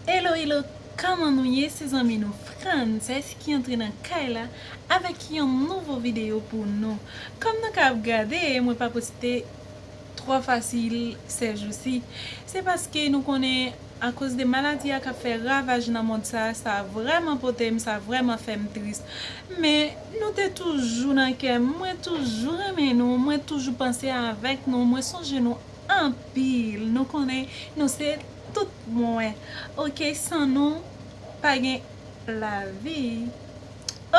Hello hello Kman nou ye se zanmi nou Frances ki antre nan kay la avèk yon nouvo video pou nou Kòm nou ka ap gade mwen pa poste twò fasil sè jou si se paske nou konnen akoz de maladi a kap fè ravaj nan mond sa sa vrèman potem sa vrèman fèm tris men nou te toujou nan kèm mwen toujou renmen nou mwen toujou panse avèk nou mwen sonje nou anpil nou konnen nou se tout mwen ok san nou pa gen lavi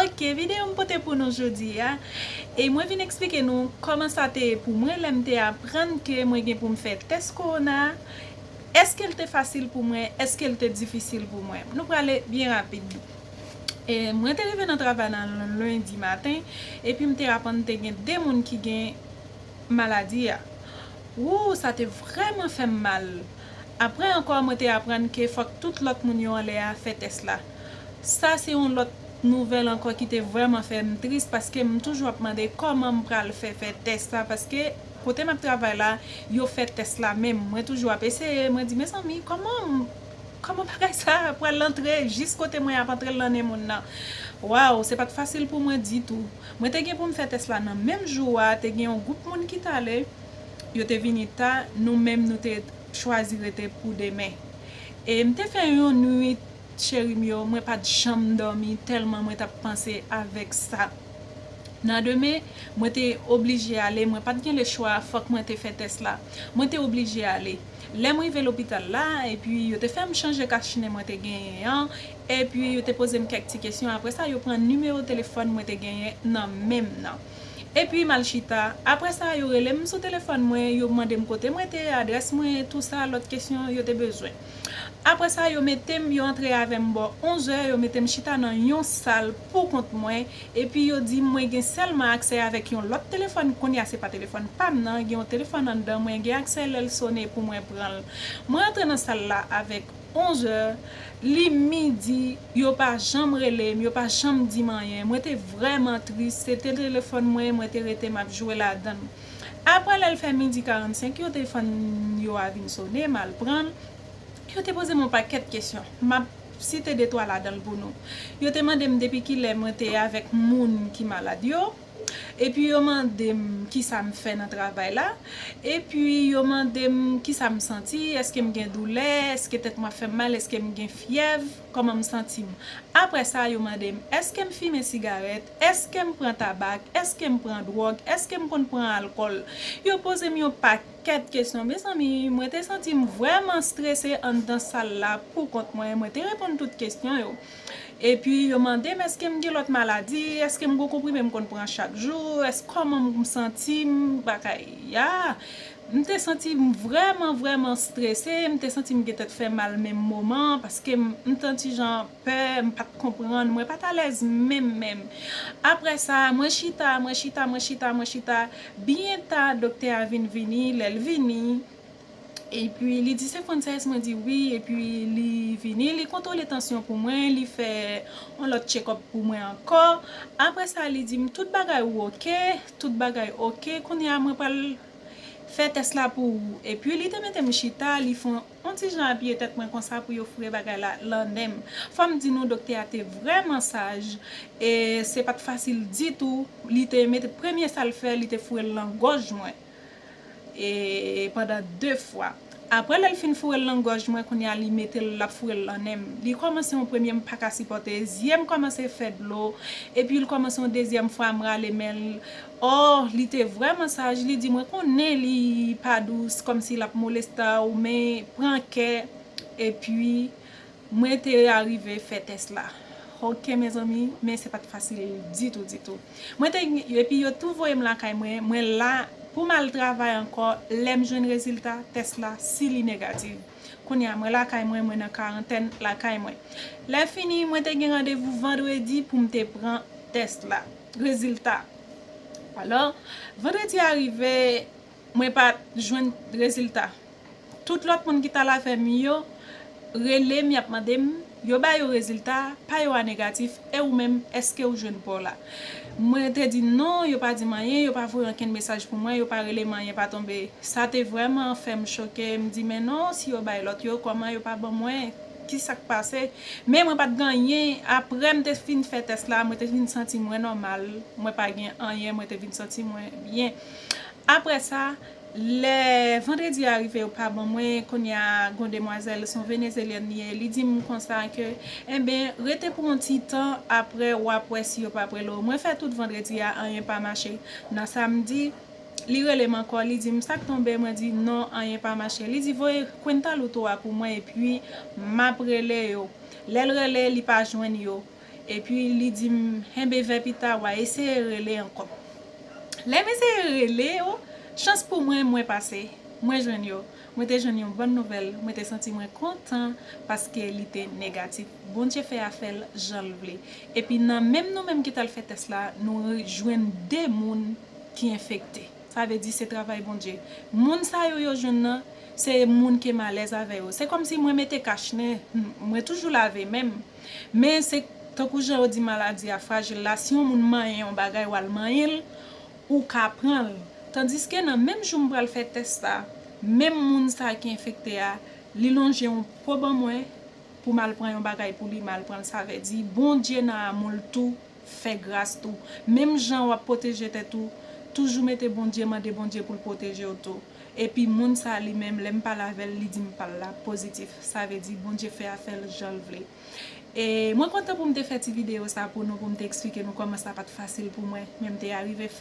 ok video m pote pou nou jodi a e mwen vin eksplike nou kòman sa te ye pou mwen lèm te aprann ke mwen gen pou m fè tès kowona eske l te fasil pou mwen eske l te difisil pou mwen nou prale byen rapid mwen te rive nan travay nan lendi maten epi m te aprann te gen 2 moun ki gen. maladi a. Wouuh sa te vrèman fè m mal. Aprè ankò mwen te aprann ke fòk tout lòt moun yo anlè a fè tès la. Sa se yon lòt nouvèl ankò ki te vrèman fè m tris paske m toujou ap mande kòman m pral fè fè tès sa paske kote m ap travay la yo fè tès la menm mwen toujou ap eseye mwen di mezanmi kòman m kòman bagay sa pral antre jis kote mwen ap antre l nan nen moun nan. Waww se pa t fasil pou mwen ditou. Mwen te gen pou m fè tès la nan menm jou a, te gen yon gwoup moun ki t ale, yo te vini ta, nou menm nou te chwazi rete pou demen. E m te fè yon nwit cheri m yo, mwen pa t janm dòmi tèlman mwen t ap panse avèk sa. Nan demen, mwen te oblije ale, mwen pa t gen lechwa, fòk mwen te fè tès la. Mwen te oblije ale. Lè m rive lopital la, epi yo te fè m chanje kachnen mwen te genyen an, Epi yo te poze m kèk ti kesyon, apre sa yo pran nimewo telefòn mwen te genyen nan men m nan. Epi m al chita, apre sa yo rele m sou telefòn mwen, yo mande m kote m rete, adrès mwen, tou sa lòt kesyon yo te bezwen. Apre sa yo mete m, yo antre avè m bò onzè, yo mete m chita nan yon sal pou kont mwen, epi yo di m mwen gen sèlman aksè avèk yon lòt telefòn, kounye a se pa telefòn pa m nan, gen yon telefòn anndan mwen gen aksè lè l sone pou mwen pran l. Mwen antre nan sal la avèk. 11 è, li midi, yo pa janm rele m, yo pa janm di m anyen. Mwen te vrèman tris, se te telefòn mwen, mwen te rete m ap jwe ladan l. Aprè lè l fè midi 45, yo te fann yo a vin sone, m al pran l. Yo te poze m yon pakèt kesyon, m ap site detwa ladan l pou nou. Yo te mande m depi kilè mwen te avèk moun ki malad yo. Epi yo mande m kisa m fè nan travay la. Epi yo mande m kisa m santi, èske m gen doulè, èske tèt mwen ap fè m mal, èske m gen fyèv, kòman m santi m. Apre sa yo mande m èske m fimen sigarèt, èske m pran tabak, èske m pran dwòg, èske m konn pran alkòl. Yo poze m yon pakèt kesyon. Mezanmi, mwen te santi m vrèman strese anndan sal la poukont mwen. Mwen te reponn tout kesyon yo. Epi yo mande m èske m gen lòt maladi, èske m gen yon konprime m konn pran chak jou, èske kòman m santi m bakay ya. M te santi m vrèman vrèman strese, m te santi m gen tèt fè mal menm moman an paske m t santi jan pè, m pa t konprann, mwen pa t alèz menm menm. Aprè sa, mwen chita, mwen chita, mwen chita, mwen chita, byen ta doktè a vin vini, lè l vini, Epi li di se Frances mwen di wi epi li vini li kontwole tansyon pou mwen li fè yon lòt tchekòp pou mwen ankò aprè sa li di m tout bagay ou ok tout bagay ok kounye a mwen pral fè tès la pou ou epi li te mete m chita li fè yon ti jan apiye tèt mwen konsa pou yo foure bagay la lan nen m fò m di nou doktè a te vrèman saj e se pat fasil ditou li te mete premye sa l fè li te foure l lan gòj mwen. E pandan 2 fwa. Aprè lèl fin fourel nan gòj mwen kounya li metel lap fourel nan nenm li kòmanse yon premye m paka sipòte zyem kòmanse fè dlo epi l kòmanse yon dezyèm fwa m rale menl oh li te vrèman saj li di mwen konnen li pa dous kòmsi lap molestaw men pran kè epi Mwen te arive fè tès la. Ok mezanmi men se pat fasil ditou ditou. Mwen te epi yo tou voyem lakay mwen, mwen la poum al travay ankò lèm jwenn rezilta tès la si li negativ. Kounya mwen lakay mwen mwen nan karantèn lakay mwen. Lè fini mwen te gen randevou vandredi poum te pran tès la, rezilta. Alò vandredi a rive mwen pat jwenn rezilta. Tout lòt moun ki t al avè m yo rele m y ap mande m, yo ba yo rezilta pa yo a negatif, e ou menm èske ou jwenn pa w la? Mwen te di non, yo pa di m anyen, yo pa voye ankenn mesaj pou mwen, yo pa rele m anyen pa tonbe. Sa te vrèman fè m choke, m di men non si yo bay lòt yo kòman yo pa ban mwen, ki sa k pase? Men mwen pa t gen anyen, aprè m te fin fè tès la, mwen te vin santi mwen nòmal, mwen pa gen anyen, mwen te vin santi mwen byen. Aprè sa. Lè vendredi a rive yo pa ban mwen, kounya gon demwazèl son venezelyèn li ye li dim konsa ke enben rete pou yon ti tan aprè wap wè si yo pa prele w mwen fè tout vendredi a anyen pa mache nan samdi li relem ankò li dim sak tonbe mwen di non anyen pa mache li di voye kwenta luto a pou mwen epi map rele yo lèl rele li pa jwenn yo. Epi li di m, Enben vè pita w'a eseye rele ankò. Lè m eseye rele yo, chans pou mwen, mwen pase. Mwen jwenn yo. Mwen te jwenn yon bòn nouvèl. Mwen te santi mwen kontan paske li te negatif. Bondye fè afè l jan l vle. Epi nan menm nou menm ki t al fè tès la, nou jwenn de moun ki enfekte. Sa vle di se travay Bondye. Moun sa yo yo jwenn nan, se moun ke m alèz avè yo. Se kòmsi mwen mete kach nen, mwen toujou lave men m. Men se tankou jan yo di maladi a frajil la, si yon moun manyen yon bagay wal manyen l, ou ka pran l. Tandiske nan menm jou m pral fè tès sa, menm moun sa ki enfekte a, li lonje yon po ban mwen pou m al pran yon bagay pou li, m al pran l, sa vle di Bondye nan amou l tou, Fè gras tou. Menm jan wap pwoteje tèt ou, toujou mete Bondye mande Bondye poul pwotejew tou. Epi moun sa li menm lèm pale avèl li dim pal la pozitif sa vle di Bondye fè afèl janl vle. E mwen kontan poum te fè ti video sa pou nou poum te eksplike nou kòman sa pat fasil pou mwen men mte arive fè.